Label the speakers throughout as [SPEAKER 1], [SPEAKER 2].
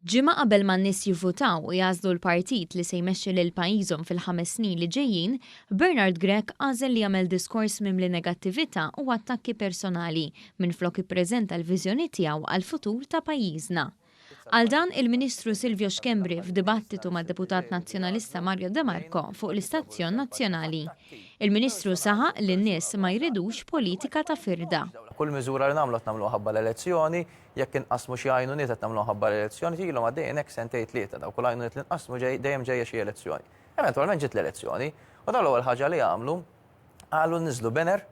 [SPEAKER 1] Ġimgħa qabel ma n-nies jivvutaw u jagħżlu l-partit li se jmexxi lil pajjiżhom fil-ħames snin li ġejjin, Bernard Grech għażel li jagħmel diskors mimli negattività u attakki personali minflok ippreżenta l-viżjoni tiegħu għall-futur ta' pajjiżna. Għal dan, il-Ministru Silvio Schembri f'dibattitu mad-Deputat Nazzjonalista Mario De Marco fuq l-istazzjon nazzjonali. Il-Ministru saħaq li n-nies ma jridux politika ta' firda. Kull miżura li
[SPEAKER 2] nagħmlu qed nagħmluha ħabba l-elezzjoni, jekk inqassmu xi għajnuniet qed nagħmluhom ħabba l-elezzjoni, ilhom għaddejjin hekk sentejn tlieta, dawk u l-għajnuniet li nqassmu dejjem ġejja xi elezzjoni. Eventwalment ġiet l-elezzjoni u dawn l-ewwel ħaġa li għamlu qalu li niżlu banner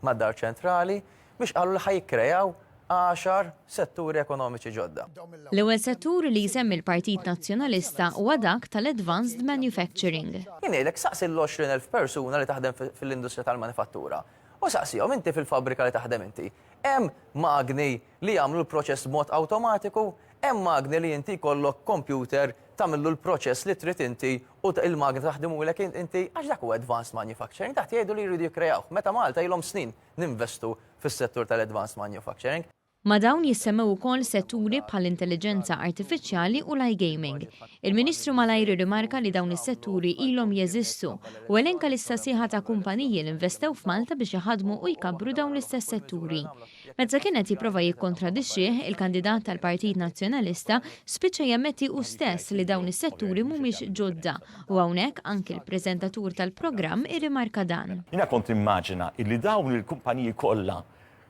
[SPEAKER 2] mad-Dar Ċentrali biex qalu li ħa jikkrejaw għaxar setturi ekonomiċi ġodda. L-ewwel settur
[SPEAKER 1] li jsemmi l-Partit Nazzjonalista huwa dak tal-advanced manufacturing. Jien ngħidlek saqsi
[SPEAKER 2] l-għoxrin elf persuna li taħdem fil-industrija tal-manifattura u saqsihom inti fil-fabbrika li taħdem inti hemm magni li jagħmlu l-proċess b'mod awtomatiku, hemm magni li inti jkollok kompjuter tagħmillu l-proċess li trid inti u l-magna taħdimulek inti għax dak huwa advanced manufacturing, dak jgħidu li jridu jikkreawh, meta Malta ilhom snin ninvestu fis-settur tal-advanced manufacturing. Ma' dawn
[SPEAKER 1] jissemmew ukoll setturi bħall-intelliġenza artifiċjali u l-iGaming. Il-Ministru malajr irrimarka li dawn is-setturi ilhom jeżistu u elenka lista sieħa ta' kumpaniji li investew f'Malta biex iħaddmu u jkabbru dawn l-istess setturi. Meta kien qed jipprova jikkontradixxih, il-kandidat tal-Partit Nazzjonalista spiċċa jammetti hu stess li dawn is-setturi mhumiex ġodda u hawnhekk anki l-preżentatur tal-programm irrimarka dan. Jiena kont nimmaġina
[SPEAKER 3] illi dawn il-kumpaniji kollha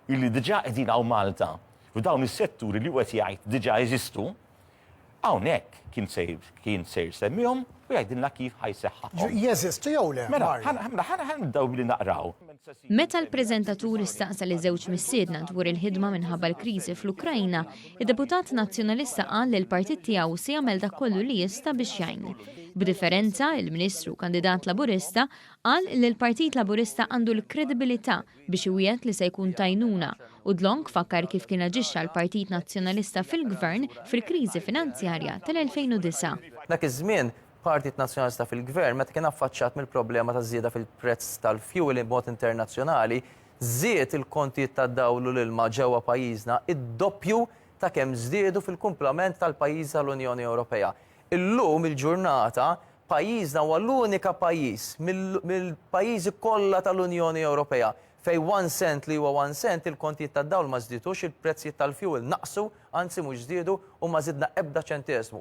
[SPEAKER 3] illi diġà qegħdin hawn Malta u dawn is-setturi li hu qed jgħid diġà jeżistu, Hawnhekk kien se kien se jsemmihom u jgħidilna kif ħa jseħħahom. Jeżistu jew
[SPEAKER 4] le? Mela, mela ħa
[SPEAKER 3] nibdew billi naqraw. Meta
[SPEAKER 1] l-preżentatur staqsa liż-żewġ missiedna dwar il-ħidma minħabba l-kriżi fl-Ukrajna, id-deputat Nazzjonalista qal li l-partit tiegħu se jagħmel dak kollu li jista' biex jgħin. B'differenza, il-Ministru kandidat Laburista qal li l-Partit Laburista għandu l-kredibilità biex iwiegħed li se jkun t'għajnuna u Dlonk fakkar kif kien aġixxa l-Partit Nazzjonalista fil-Gvern fil-kriżi finanzjarja tal-2009. Dak iż-żmien,
[SPEAKER 2] Partit Nazzjonalista fil-Gvern, meta kien affaċċjat mill-problema taż-żieda fil-prezz tal-fjuwil b'mod internazzjonali, żied il-kontijiet tad-dawl u l-ilma ġewwa pajjiżna id-doppju ta' kemm żdiedu fil-kumplament tal-pajjiżi tal-Unjoni Ewropea. Illum il-ġurnata, Pajjiżna huwa l-unika pajjiż mill-pajjiżi kollha tal-Unjoni Ewropea fejn one cent li huwa one cent il-kontijiet tad-dawl ma żdiedux, il-prezzijiet tal-fuel naqsu, anzi mhux żdiedu u ma żidna ebda ċenteżmu.